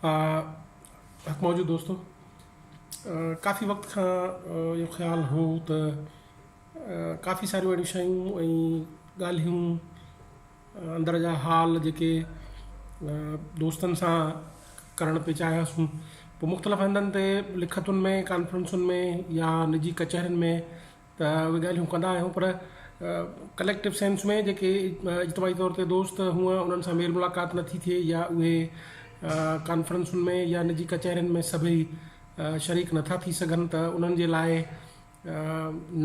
حق موجود دوستو ڪافي وقت کان اهو خيال هو ته ڪافي ساريون اهڙيون شيون ۽ ڳالهيون اندر جا حال جيڪي دوستن سان ڪرڻ پئي چاهياسون پوء مختلف هنڌن تي لکتن ۾ ڪانفرنسن ۾ يا نجي ڪچهرين ۾ ته اهي ڳالهيون ڪندا آهيون پر ڪليڪٽو سينس ۾ جيڪي اجتماعي طور تي دوست هونئن انهن سان ميل ملاقات نه ٿي ٿئي يا اهي ڪانفرنسن ۾ يا نجي ڪچهرين ۾ سڀئي شريڪ نه ٿا ٿي سگهن ته انهن جي لاء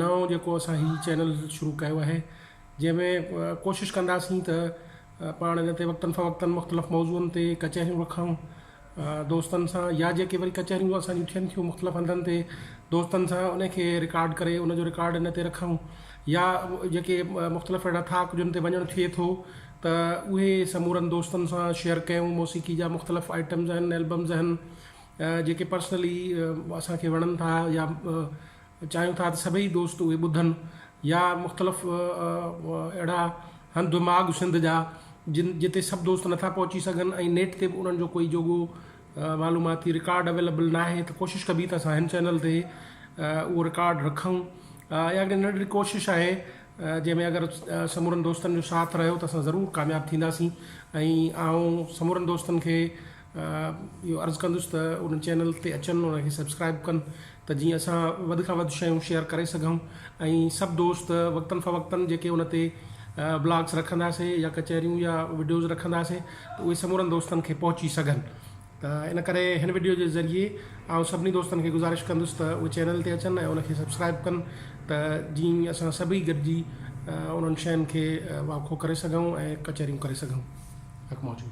نئون جيڪو اسان هي چينل شروع ڪيو آهي جنهن ۾ ڪوشش ڪنداسين ته پاڻ ان تي وقتن فوقتن مختلف موضوعن تي ڪچهريون رکون دوستن سان يا جيڪي وري ڪچهريون اسان جون ٿين ٿيون مختلف هنڌن تي دوستن سان ان کي رڪارڊ ڪري ان جو رڪارڊ ان تي رکون يا جيڪي مختلف اهڙا ٿاڪ جن تي وڃڻ ٿئي ٿو ته اهي سمورن دوستن سان شيئر ڪيون موسيقي جا مختلف آئٽمز آهن البمز آهن جيڪي پرسنلي اسان کي وڻن ٿا يا چاهيون ٿا ته سڀئي دوست اهي ٻڌن يا مختلف اهڙا هنڌ ماڳ سنڌ جا جن جتي سڀ دوست نٿا پهچي سگهن ۽ نيٽ تي به انهن جو ڪوئي جوڳو معلوماتي رڪارڊ اويليبل ناهي ته ڪوشش ڪبي ته اسان هن چينل تي اهو رڪارڊ رکون اها هڪڙي ننڍڙي ڪوشش آهي جنهن ۾ اگر سمورن دوستن جو ساٿ رهيو ته اسان ضرور ڪامياب ٿينداسين ۽ آئون سمورن دوستن کي اهو عرض ڪندس ته ان چينل تي اچن ان کي سبسڪرائب ڪن ته جيئن اسان وڌ کان وڌ شيون شيئر ڪري سگهون ۽ سڀ دوست وقتن فوقتن جيڪي ان تي بلاگس رکنداسين يا ڪچهريون يا وڊيوز رکنداسين ته اهي سمورن دوستن کي پهچي سگهن ته ان ڪري هن وڊيو جي ذريعي آئون سڀني دوستن کي گذارش ڪندس ته اهي چينل تي اچن ۽ ان کي سبسڪرائب ڪن ته جيئن اسان سڀئي گڏجي انهن شين کي واکو ڪري سگهون ۽ ڪچهريون ڪري سگهون. حق موجود.